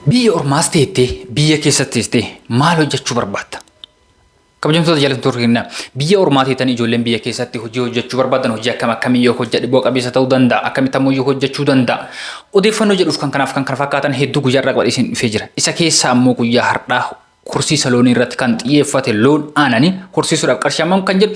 Biyya ormaas teettee biyya keessatti teessee maal hojjechuu barbaadda? Kabajamtoota jaalattoota keenya biyya ormaa teetan ijoolleen biyya keessatti hojii hojjechuu barbaadan hojii akkam akkamii yoo hojjedhe bu'a qabeessa ta'uu danda'a akkamitti ammoo yoo hojjechuu danda'a odeeffannoo jedhuuf kan kanaaf kan kana fakkaatan hedduu guyyaa irraa qabadhee isin dhufee jira isa keessaa ammoo guyyaa har'aa horsiisa loonii irratti kan xiyyeeffate loon aananii horsiisuudhaaf qarshii hammam kan jedhu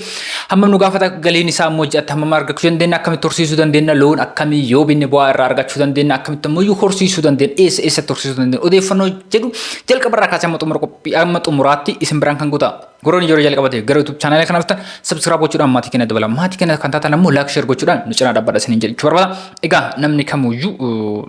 hammam nu gaafata galiin isaa immoo ji'atti hammam argachuu dandeenya akkamitti horsiisuu dandeenya loon akkamii yoo binne bu'aa irraa argachuu dandeenya akkamitti immoo iyyuu horsiisuu dandeenya eessa eessatti horsiisuu dandeenya odeeffannoo jedhu jalqaba irraa kaasee amma xumura qophii amma xumuraatti isin biraan kan guutaa. Goroon ijoollee jalqabate gara YouTube chaanaalii kana dhuftan subscribe gochuudhaan maatii keenya dabala. Maatii keenya kan taatan ammoo like share gochuudhaan nu cinaa dhaabbadha isiniin jechuu barbaada. Egaa namni kamuyyuu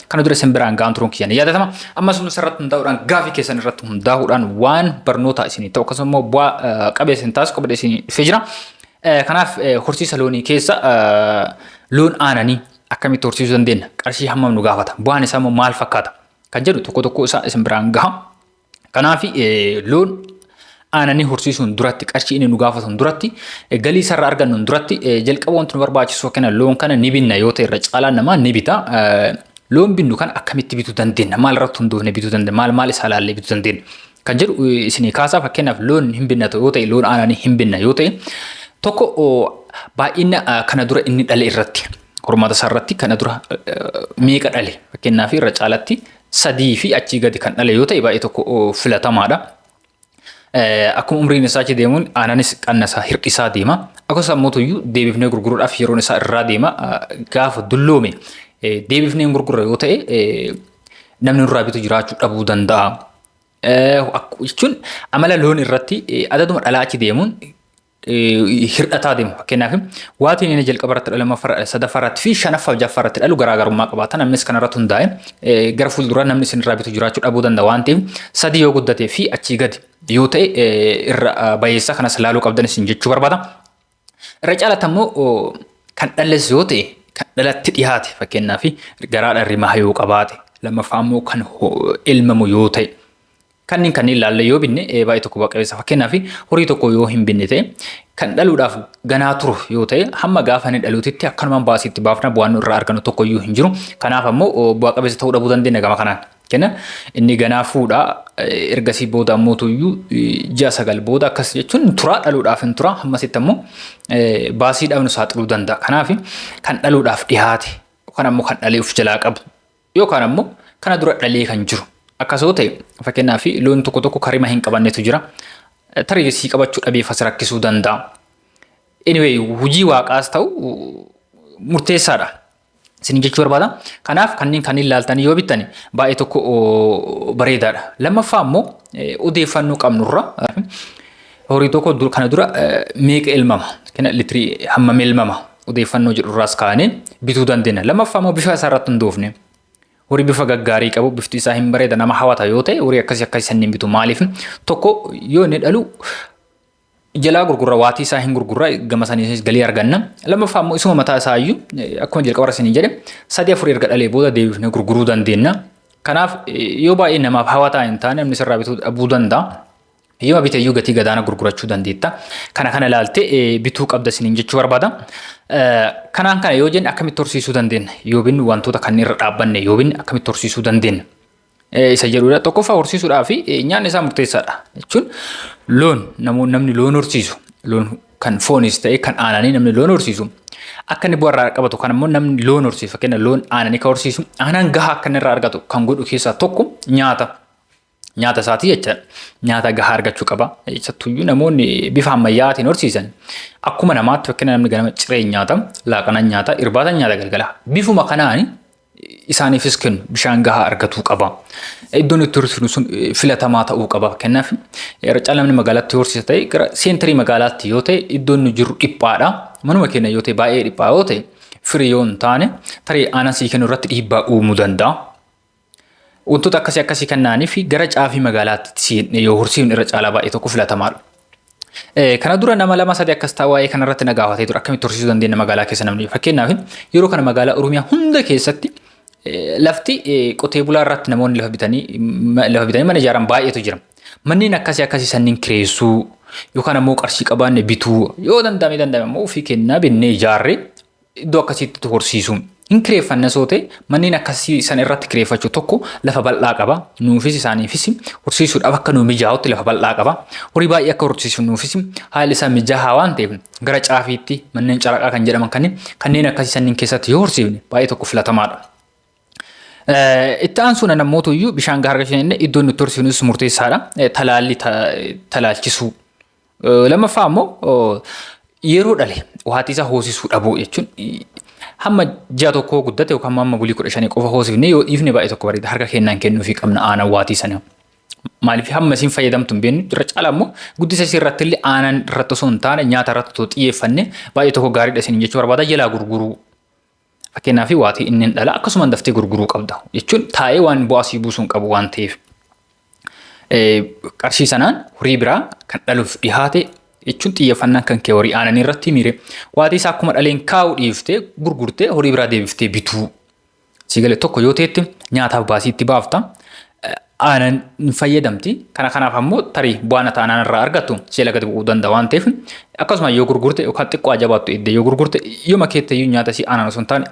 kana dura isin biraan ga'an turuun kiyya ni yaadatama. Ammas humna irratti hundaa'uudhaan gaafii keessan irratti hundaa'uudhaan waan barnootaa isinii ta'u akkasumas immoo bu'aa eh, qabeessa hin taasisu qabadee isinii dhufee jira. Eh, Kanaaf eh, horsiisa loonii keessa eh, loon aananii akkamitti horsiisuu dandeenya? Qarshii hammam nu gaafata? Bu'aan isaa immoo maal fakkaata? Kan jedhu tokko tokko isaa isin biraan gaha. Kanaaf loon aananii horsiisuun duratti qarshii inni nu gaafatuun duratti galii isarraa argannuun duratti jalqaba wanti nu barbaachisu yookiin loon kana ni binna yoo ta'e irra caalaan namaa ni bita. Loon binnu kana akkamitti bituu dandeenya? Maal irratti hundoofne bituu dandeenya? Maal maal isaa ilaallee bituu dandeenya? Kan jedhu isinii kaasaa fakkeenyaaf loon hin binna yoo ta'e loon aananii hin binna yoo ta'e tokko baay'ina kana dura inni dhale irratti hormaata isaa irratti kana dura meeqa dhale fakkeenyaaf irra caalatti sadii fi achii gadi kan dhale yoo ta'e baay'ee tokko filatamaadha. Akkuma umriin isaa achi deemuun aananis qannasaa hir'isaa deema. Akkasumas ammoo tuyyuu deebifnee gurguruudhaaf yeroon isaa irraa deema. Gaafa dulloome deebifnee hin gurgurre yoo ta'e namni nurraa bitu jiraachuu dhabuu danda'a. Jechuun amala loon irratti adaduma dhalaa achi deemuun hir'ataa deemu. Fakkeenyaaf waatiin inni jalqaba irratti dhalu lammaffaa sadaffaa irratti fi shanaffaa jaffaa irratti dhalu garaagarummaa qabaata. Namnis kana irratti hundaa'e gara fuulduraa namni isin irraa bitu jiraachuu dhabuu danda'a waan ta'eef sadii yoo guddatee fi achii gadi yoo ta'e irra bayeessaa kanas laaluu qabdan isin jechuu barbaada. Irra caalatti ammoo kan dhalles yoo ta'e kan dhalatti dhiyaate fakkeenyaaf garaadhaan rimaa yoo qabaate lammaffaa ammoo kan ilmamu yoo ta'e Kanniin kanniin laallee yoo binne baay'ee tokko bu'a qabeessa. Fakkeenyaaf horii tokko yoo hin binne ta'e kan dhaluudhaaf ganaa turu yoo ta'e hamma gaafa inni dhaluutitti akkanumaan baasii itti baafna bu'aan irraa argannu tokko iyyuu hin jiru. Kanaaf ammoo bu'a qabeessa ta'uu dhabuu dandeenya gama kanaan. Kenna inni ganaa fuudha ergasii booda ammoo tuyyuu ji'a sagal booda akkas jechuun turaa dhaluudhaaf hin turaa hammasitti ammoo baasii dhabnu saaxiluu danda'a. Kanaaf kan dhaluudhaaf dhihaate yookaan ammoo kan dhalee of jalaa qabu Yookaan ammoo kana dura dhalee kan jiru. Akkas yoo ta'e fakkeenyaaf loon tokko tokko karima hin qabannetu jira. Tarii sii qabachuu dhabee fasi rakkisuu danda'a. Anyway hojii waaqaas ta'u murteessaadha. Isin jechuu barbaada. Kanaaf kanneen kanneen laaltanii yoo bittan baay'ee tokko bareedaadha. Lammaffaa ammoo odeeffannoo qabnurra Horii tokko dur- kana dura eh, meeqa elmama? Kena litrii hammam elmama? Odeeffannoo jedhu irraas kaanee bituu dandeenya. Lammaffaa immoo bifa isaa irratti hundoofne. Horii bifa gaggaarii qabu, bifti isaa hin bareeda, nama hawata yoo ta'e horii akkasii akkasii sanniin bitu. Maaliif? Tokko yoo inni dhalu jalaa gurgurra waatii isaa hin gurgurra gama saniinis galii arganna. Lammaffaa immoo isuma mataa isaa iyyuu eh, akkuma jalqaba irratti isin jedhe sadii afur erga dhalee booda deebifnee gurguruu dandeenya. Kanaaf eh, yoo baay'ee namaaf hawataa hin taane namni sirraa bituu dhabuu danda'a. Eeyyama bite iyyuu gatii gadaana gurgurachuu dandeetta. Kana kana ilaalte bituu qabda isiniin jechuu barbaada. Kanaan kana yoo jenne akkamitti horsiisuu dandeenya? Yoo binnu wantoota kanneen irra dhaabbanne yoo binne akkamitti horsiisuu dandeenya? Isa jedhudha. Tokkoffaa horsiisuudhaa fi nyaanni isaa murteessaadha. Jechuun loon namni loon horsiisu loon kan foonis ta'e kan aananii namni loon horsiisu akka inni bu'aa irraa qabatu kan immoo namni loon horsiisu fakkeenya loon aananii kan horsiisu aanaan gahaa akka inni irraa argatu kan godhu keessaa tokko nyaata. Nyaata isaatii jecha nyaata gahaa argachuu qaba. Isattuyyuu namoonni bifa ammayyaatiin horsiisan akkuma namaatti fakkina namni ganama cireen nyaata, laaqanan nyaata, irbaatan nyaata galgala. Bifuma kanaan isaaniifis kennu bishaan gahaa argatuu qaba. Iddoon itti horsiisnu sun filatamaa ta'uu qaba. Fakkeenyaaf irra caalaa namni magaalatti horsiisa ta'e gara seentarii magaalaatti yoo ta'e iddoon nu jiru dhiphaadha. Manuma keenya yoo ta'e baay'ee dhiphaa yoo ta'e firii yoo hin taane tarii aanan sii kennu irratti dhiibbaa uumuu danda'a. Wantoota akkasii akkasii kan na'aniif gara caafii magaalaatti si hidhne yoo horsiifne irra caalaa baay'ee tokko filatamaadha. Eh, Kana dura nama lama sadii akkas ta'a waa'ee kanarratti na gaafatee ture akkamitti horsiisuu dandeenya magaalaa keessa namni fakkeenyaaf yeroo kana magaalaa Oromiyaa hunda keessatti eh, lafti eh, qotee bulaa irratti namoonni lafa bitanii ma- lafa bitanii mana ijaaran baay'eetu jira. Manneen akkasii akkasii sanniin kireessuu yookaan ammoo qarshii qabaanne bituu yoo danda'ame danda'ame ammoo ofii kennaa binnee ijaarree iddoo akkasiitti horsiisuu. Hin kireeffanna soo ta'e manneen akkasii san irratti kireeffachuu tokko lafa bal'aa qaba. Nuufis isaaniifis horsiisuudhaaf akka nu mijaa'utti lafa bal'aa qaba. Horii baay'ee akka horsiisnuufis haalli isaa mijaa'aa waan ta'eef gara caafiitti manneen caraqaa kan jedhaman kanneen kanneen akkasii sanniin keessatti yoo horsiifne baay'ee tokko filatamaadha. Itti aansuun ammoo iyyuu bishaan gahaa argachuu dandeenye iddoon nutti horsiifnus murteessaadha. Talaalli talaalchisuu. Lammaffaa ammoo yeroo dhale waatii isaa hoosisuu dhabuu jechuun hamma ji'a tokkoo guddate yookaan amma bulii kudha shanii qofa hoosifne yoo dhiifne baay'ee tokko bareeda harka kennaan kennuufii qabna aanan waatii sana. Maaliif hamma isin fayyadamtu hin beeknu irra caala ammoo guddisa isii irratti illee aanan irratti osoo hin taane nyaata irratti osoo xiyyeeffanne baay'ee tokko gaariidha isin jechuu barbaada jalaa gurguruu Fakkeenyaaf waatii inni hin dhala akkasumaan daftee gurguruu qabda jechuun taa'ee waan bu'aa sii buusuun qabu waan ta'eef qarshii sanaan horii biraa kan dhaluuf dhihaate jechuun xiyyeeffannaan kan kee horii aananii irratti miire waatii isaa akkuma dhaleen kaa'uu dhiiftee gurgurtee horii biraa deebiftee bituu sii galee tokko yoo ta'etti nyaataaf baasii itti baafta aanan hin fayyadamti. Kana kanaaf ammoo tarii bu'aan ati aanan irraa argattu seela gadi bu'uu danda'a waan ta'eef akkasuma yoo gurgurte yookaan xiqqoo ajabaattu eddee yoo gurgurte yoma keettayyuu nyaata isii aanan osoo hin taane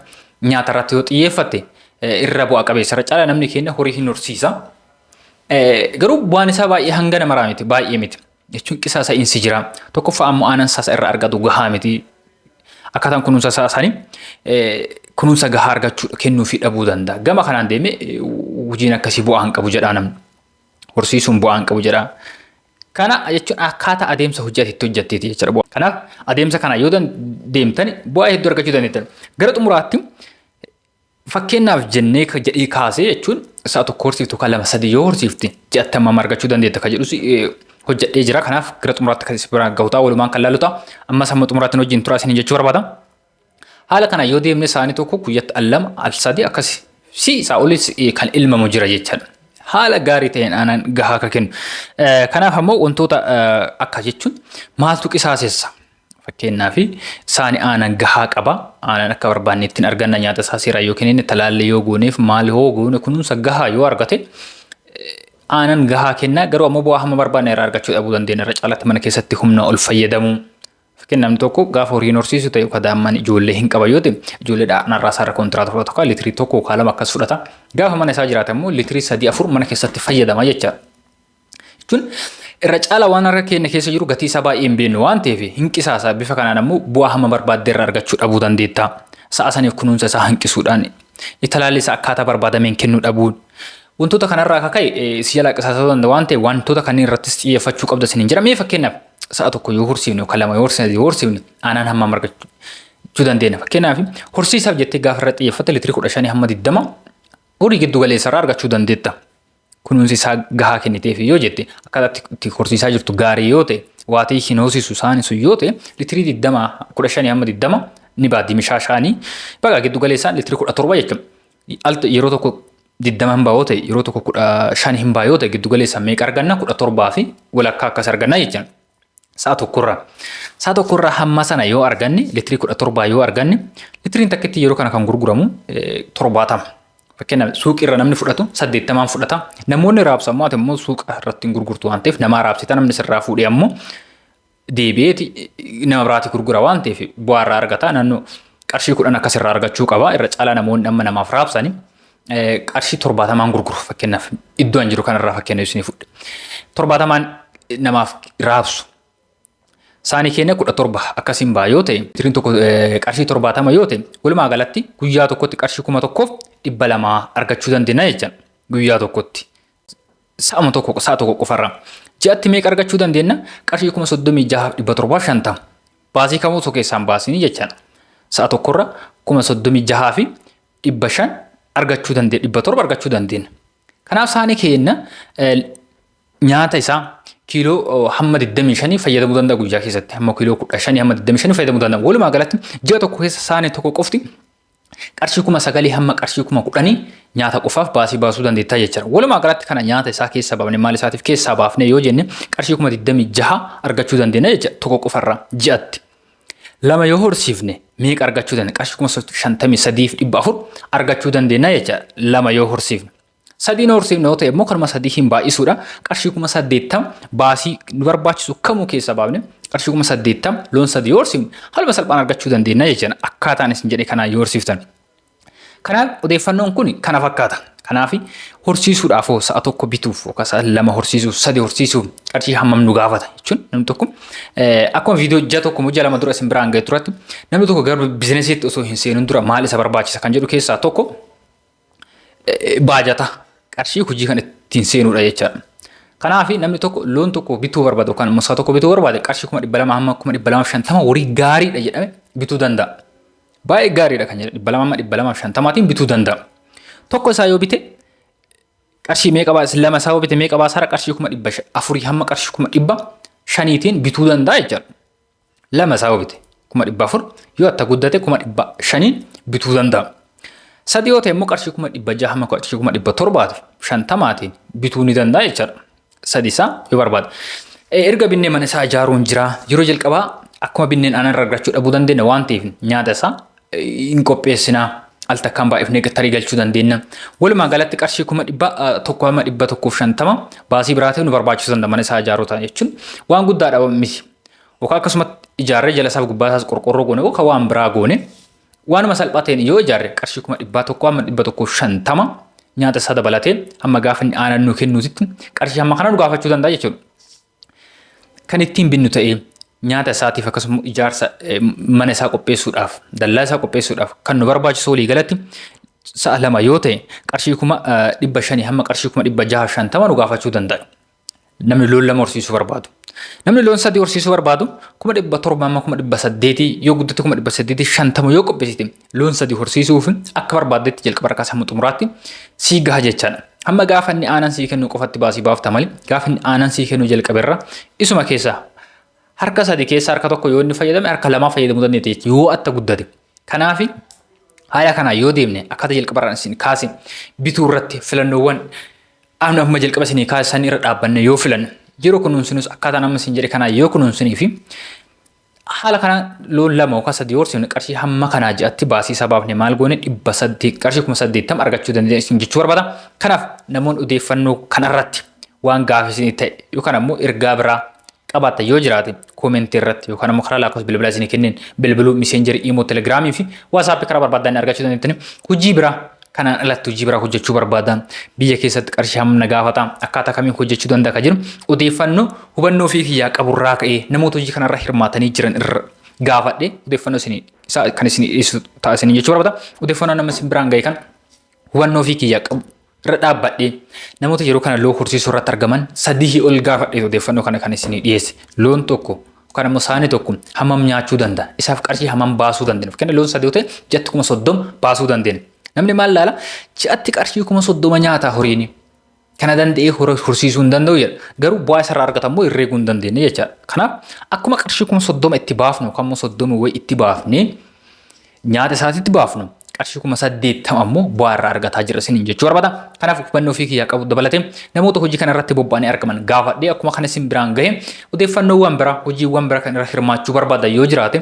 nyaata irratti yoo xiyyeeffatte irra bu'a qabeessa irra caala namni keenya horii hin horsiisa. Garuu bu'aan isaa baay'ee hanga namaraa miti baay'ee miti. jechuun qisaasa'iinsi jira. Tokkoffaa ammoo aanan sasa irraa argatu gahaa miti. Akkaataan kunuunsa isaa isaanii kunuunsa gahaa argachuu kennuu fi dhabuu danda'a. Gama kanaan deemee hojiin akkasii bu'aa hin qabu jedhaa namni. Horsiisuun bu'aa hin qabu jedhaa. Kana jechuun akkaataa adeemsa hojii ati itti hojjetteeti jechuudha. Kanaaf adeemsa kana yoo deemtan bu'aa hedduu argachuu dandeettan. Gara xumuraatti Fakkeenyaaf jennee ka jedhii kaasee jechuun sa'a tokko horsiiftu ka lama sadii yoo horsiifte ji'atti hammam argachuu dandeetta ka jedhus eh, hojjedhee jira. Kanaaf gara xumuraatti kan isin biraan gahu ta'a walumaan kan laalu ta'a. Ammas hamma xumuraatti nu wajjin turaa isin jechuu barbaada. Haala kanaan yoo deemne saanii tokko guyyatti al lama al sadii akkas si isaa olis eh, kan ilmamu jira jechaadha. Haala gaarii ta'een aanaan gahaa akka kennu. Eh, Kanaaf ammoo wantoota eh, akka jechuun maaltu qisaasessa? Fakkeenyaaf saani aanan gahaa qaba. Aanan akka barbaanne ittiin arganna nyaata isaa seeraan yoo kennine talaallee yoo gooneef maal yoo goone kunuunsa gahaa yoo argate aanan gahaa kennaa garuu ammoo bu'aa hamma barbaanne irraa argachuu dhabuu dandeenya irra caalaatti mana keessatti humna ol fayyadamuu. Fakkeenyaaf namni tokko gaafa horiin horsiisu ta'e yookaan daa'imman ijoollee hin qaban yoo ta'e ijoollee dhaanarraa isaarra kontiraata fudhatu kan liitirii tokko yookaan lama akkas fudhata. Gaafa mana isaa jiraata immoo liitirii sadii afur mana keessatti fayyadama jechaadha. jechuun irra caala waan harka keenya keessa jiru gatii isaa baay'ee hin beeknu waan ta'eef hin qisaasa bifa kanaan ammoo bu'aa hamma barbaadde irra argachuu dhabuu dandeetta sa'a saniif kunuunsa isaa hanqisuudhaan talaallii isaa akkaataa barbaadameen kennuu dhabuun wantoota kanarraa akka ka'e si jalaa qisaasuu danda'a waan ta'eef wantoota kanneen irrattis xiyyeeffachuu qabda siniin jira mee fakkeenyaaf sa'a tokko yoo horsiifne yookaan lama yoo horsiifne yoo horsiifne aanaan hamma margachuu dandeenya fakkeenyaaf horsiisaaf jettee gaafa irra xiyyeeffatte litiri kudha shanii hamma digdama horii giddu galeessarraa argachuu dandeetta. kunuunsi isaa gahaa kenniteefi yoo jette akkaataa itti- itti horsiisaa jirtu gaarii yoo ta'e waatee hin hoosisu saani sun yoo ta'e litirii 20 15 hamma 20 ni baaddi mishaa shaanii bagaa giddu galeessaan litirii 17 jechuun al yeroo tokko 20 hin baa yoo ta'e yeroo tokko 15 hin baa yoo ta'e giddu galeessaan meeqa arganna 17 fi walakkaa akkas arganna jechuudha. Sa'a tokkorraa. Sa'a tokkorraa hamma sana yoo arganne litirii kudha torbaa yoo arganne litiriin takkitti yeroo kana kan gurguramu torbaatama. Fakkeenyaaf suuqiirra namni fudhatu saddeettamaan fudhata. Namoonni raabsu ammoo ati immoo suuqa irratti hin gurgurtu waan ta'eef namaa raabsita namni sirraa fuudhee ammoo deebi'eeti nama biraati gurgura waan ta'eef bu'aa irraa argata naannoo qarshii kudhan akka sirraa argachuu qaba irra caalaa namoonni amma namaaf raabsani qarshii torbaatamaan gurguru fakkeenyaaf iddoo an jiru kanarraa fakkeenya isinii fudhe. Torbaatamaan namaaf raabsu. Saanii keenya kudha torba akkasiin ba'a yoo ta'e tiriin tokko qarshii torbaatama yoo ta'e walumaa galatti guyyaa tokkotti qarshii kuma tokkoof dhibba lamaa argachuu dandeenya jecha guyyaa tokkotti. Sa'ama tokko sa'a tokko qofarraa. Ji'atti meeqa argachuu dandeenya qarshii kuma soddomii jahaaf dhibba torbaaf shantama. Baasii kamuu osoo keessaan baasinii jechaan sa'a tokkorra kuma soddomii jahaa fi dhibba shan argachuu dandeenya dhibba torba argachuu dandeenya. Kanaaf saanii keenya nyaata isaa kiiloo hamma 25 fayyadamuu danda'a guyyaa keessatti hamma kiiloo 15 hamma 25 fayyadamuu danda'a. Walumaa galatti ji'a tokko keessa saanii tokko qofti qarshii kuma sagalii hamma qarshii kuma kudhanii nyaata qofaaf baasii baasuu dandeettaa jechuudha. Walumaa galatti kana nyaata isaa keessa baafne maal isaatiif keessaa baafne yoo jenne qarshii kuma 26 argachuu dandeenya jechuudha tokko qofarraa ji'atti. lama yoo horsiifne meeqa argachuu dandeenya? Qarshii kuma shantamii sadii fi dhibba afur argachuu dandeenya jecha lama yoo horsiifne. Sadiin horsiifne yoo ta'e immoo kanuma sadii hin baay'isuudha. Qarshii kuma saddeettam baasii nu barbaachisu kamuu keessa baafne qarshii kuma saddeettam loon sadii yoo horsiifne haluma salphaan argachuu dandeenya jecha akkaataan isin jedhe kanaan yoo horsiiftan. Kanaaf odeeffannoon kun kana fakkaata. Kanaaf horsiisuudhaaf hoo sa'a tokko bituuf yookaan sa'a lama horsiisuuf sadi horsiisuuf qarshii hammam nu gaafata jechuun namni tokko akkuma viidiyoo ji'a tokko moo ji'a lama dura isin biraan ga'e turatti namni tokko gara biizinesiitti osoo hin seenin dura maal isa barbaachisa kan jedhu keessaa tokko baajata qarshii hojii kan ittiin seenuudha jechaadha. Kanaaf namni tokko loon tokko bituu barbaade yookaan immoo sa'a tokko bituu barbaade qarshii kuma dhibba lama hamma kuma dhibba lama shantama horii gaariidha jedhame bituu danda'a. Baay'ee gaariidha kan jedhe dhibba lama amma dhibba lamaaf shantamaatiin bituu danda'a. Tokko isaa yoo bite qarshii meeqa baasa lama isaa yoo bite meeqa baasaara qarshii kuma dhibba sha- afurii hamma qarshii kuma dhibba shaniitiin bituu danda'a jechaadha. Lama isaa yoo bite kuma dhibba afur yoo atta guddate kuma dhibba shaniin bituu danda'a. Sadii yoo ta'e immoo qarshii kuma dhibba jaha hamma qarshii kuma dhibba torbaatiif shantamaatiin bituu ni danda'a jechaadha. Sadii isaa yoo barbaada. Eh, Erga binnee mana isaa ijaaruun jira. Yeroo jalqabaa akkuma binneen aanan irraa argachuu dhabuu dandeenya waan ta'eef nyaata isaa eh, hin qopheessina. Al takkaan baay'ifnee tarii galchuu dandeenya. Walumaa galatti qarshii kuma dhibba ah, tokko hama dhibba tokkoof shantama baasii biraa ta'e nu barbaachisuu danda'a mana isaa ijaaruu ta'a jechuun waan guddaadha miti. Yookaan akkasumatti ijaarree jala isaaf gubbaa isaas qorqorroo goone yookaan waan biraa goone Waanuma salphateen yoo ijaarre qarshii kuma dhibbaa tokko amma dhibba tokko shantama nyaata isaa dabalatee hamma gaafa inni aanan nuu kennuutitti qarshii hamma kana nu gaafachuu danda'a jechuudha. Kan ittiin binnu ta'ee nyaata isaatiif akkasuma ijaarsa mana isaa qopheessuudhaaf dallaa isaa qopheessuudhaaf kan nu barbaachisu walii galatti sa'a lama yoo ta'e qarshii kuma dhibba shanii hamma qarshii kuma dhibba jaha shantama nu gaafachuu danda'a. namni loon lama horsiisuu barbaadu. Namni loon sadii horsiisuu barbaadu kuma dhibba torba amma kuma dhibba saddeetii yoo guddate kuma dhibba saddeetii shantama yoo qopheessite loon sadii horsiisuuf akka barbaaddetti jalqaba harkaa sammuu xumuraatti sii gaha jechaadha. Amma gaafa inni aanan sii kennu qofatti baasii baafta malee gaafa inni aanan sii kennu jalqaberra isuma keessaa harka sadii keessa harka tokko yoo inni fayyadame harka lamaa fayyadamuu dandeetti jechuudha yoo atta guddate. Kanaafi haala kanaa yoo deemne akkaataa jalqabarraan isin kaase bituu irratti filannoowwan Qaamni amma jalqaba isinii kaase san irra dhaabbanne yoo filanne yeroo kunuunsinus akkaataan amma isin jedhe kanaa yoo kunuunsinii fi haala kana loon lama yookaan sadii horsiifne qarshii hamma kanaa ji'atti baasii isaa baafne maal goone dhibba saddeet qarshii kuma saddeettam argachuu dandeenya isin jechuu barbaada. Kanaaf namoonni odeeffannoo kanarratti waan gaafii isinii ta'e yookaan ammoo ergaa biraa qabaattan yoo jiraate Comment irratti yookaan ammoo karaa lakkoofsa bilbilaa isinii kenneen bilbiluu miseenjerii imoo telegiraamii fi waasaappii karaa barbaadan argachuu dandeettani. Hojii biraa kanaan alatti hojii biraa hojjechuu barbaada. Biyya keessatti qarshii hamma na gaafata. Akkaataa kamiin hojjechuu danda'a kan jedhu odeeffannoo hubannoo ofii kiyyaa qaburraa ka'ee namoota hojii kanarra hirmaatanii jiran irra gaafadhe odeeffannoo isinii isaa kan isinii dhiyeessu ta'a isinii jechuu barbaada. Odeeffannoo nama isin biraan ga'e kan hubannoo ofii kiyya qabu irra dhaabbadhee namoota yeroo kana loon horsiisuu irratti argaman sadii ol gaafadhee odeeffannoo kana kan isinii dhiyeesse loon tokko yookaan immoo saani tokko hammam nyaachuu danda'a isaaf qarshii hammam baasuu dandeenya fakkeenya loon sadii yoo ta'e ji'atti kuma soddoma baasuu dandeenya namni maal laala ji'atti qarshii kuma soddoma nyaataa horiini kana danda'ee hora horsiisuu hin danda'u jedha. Garuu bu'aa isarraa argatan immoo irra eeguu hin dandeenye jechaadha. Kanaaf akkuma qarshii kuma soddoma itti baafnu yookaan immoo soddoma wayii itti baafne nyaata isaatitti baafnu qarshii kuma saddeettama ammoo bu'aa irraa argataa jira isiniin jechuu barbaada. Kanaaf hubannoo ofii kiyyaa qabu dabalatee namoota hojii kana irratti bobba'anii argaman gaafadhee akkuma kana isin biraan gahe odeeffannoowwan biraa hojiiwwan biraa kan irra hirmaachuu barbaada yoo jiraate